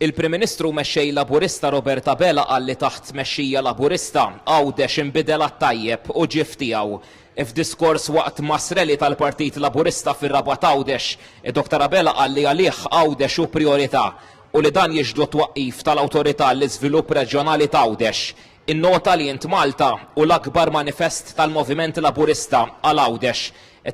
Il-Prim Ministru u Mexxej Laburista Robert Abela qal li taħt tmexxija Laburista, Għawdex inbidel għat-tajjeb u ġie f'tiegħu. F'diskors waqt mass rally tal-Partit Laburista fir-Rabat Għawdex, id-Dottor Abela qal li għalih Għawdex hu prijorità u li dan jixhdu t-twaqqif tal-Awtorità għall-Iżvilupp Reġjonali t'Għawdex. Innota li Int Malta hu l-akbar manifest tal-Moviment Laburista għal Għawdex,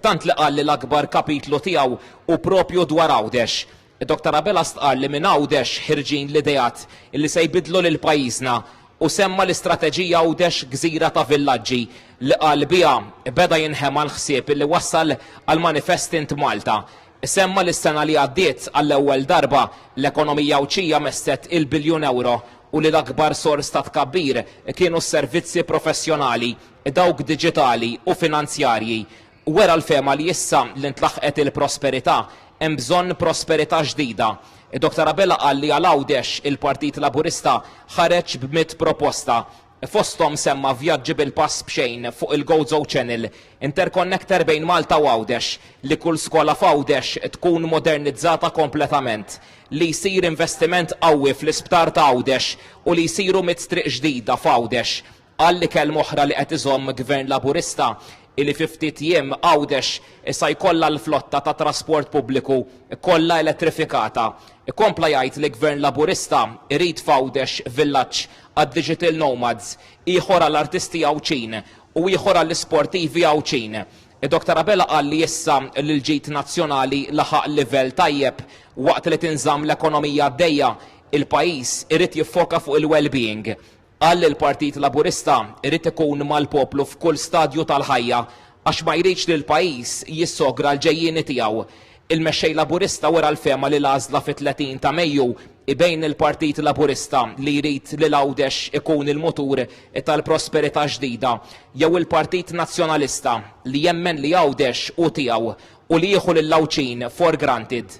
tant li qal li l-akbar kapitlu tiegħu hu proprju dwar Għawdex. Dr Abela stqarr li minn Għawdex ħirġin l-ideat li se jbiddlu lil pajjiżna u semma l-istrateġija Għawdex Gżira ta' Villaġġi li qal biha beda jinħema l-ħsieb li wassal għal manifest Int Malta. Semma li s-sena li għaddiet għall-ewwel darba l-ekonomija Għawdxija messet il-biljun ewro u li l-akbar sors ta' tkabbir kienu s-servizzi professjonali, dawk diġitali u finanzjarji. Wera l-fehma li issa li ntlaħqet il-prosperità, hemm bżonn prosperità ġdida. Doctor Abela qal li għal Għawdex il-Partit Laburista ħareġ b'mitt proposta. Fosthom semma vjaġġi bil-pass b'xejn fuq il-Gozo Channel, interconnector bejn Malta u Għawdex, li kull skola f'Għawdex tkun modernizzata kompletament, li jsir investiment qawwi fl-Isptar ta' Għawdex u li jsiru mitt triq ġdida f'Għawdex. Qal li kelma oħra li qed iżomm Gvern Laburista hi li fi ftit jiem Għawdex sa jkollha l-flotta ta' trasport pubbliku kollha elettrifikata. Kompla jgħid li Gvern Laburista jrid f'Għawdex villaġġ għad-digital nomads, ieħor għall-artisti Għawdxin u ieħor għall-isportivi Għawdxin. Doctor Abela qal li issa li l-ġid nazzjonali laħaq livell tajjeb waqt li tinżamm l-ekonomija għaddejja, il-pajjiż irid jiffoka fuq il-wellbeing. Qal li l-Partit Laburista jrid ikun mal-poplu f'kull stadju tal-ħajja għax ma jridx li l-pajjiż jissogra l-ġejjieni tiegħu. Il-Mexxej Laburista wera l-fehma li l-għażla fit-30 ta' Mejju hi bejn il-Partit Laburista li jrid li l-Għawdex ikun il-mutur tal-prosperità ġdida jew il-Partit Nazzjonalista li jemmen li Għawdex hu tiegħu u li jieħu lill-Għawdxin for granted.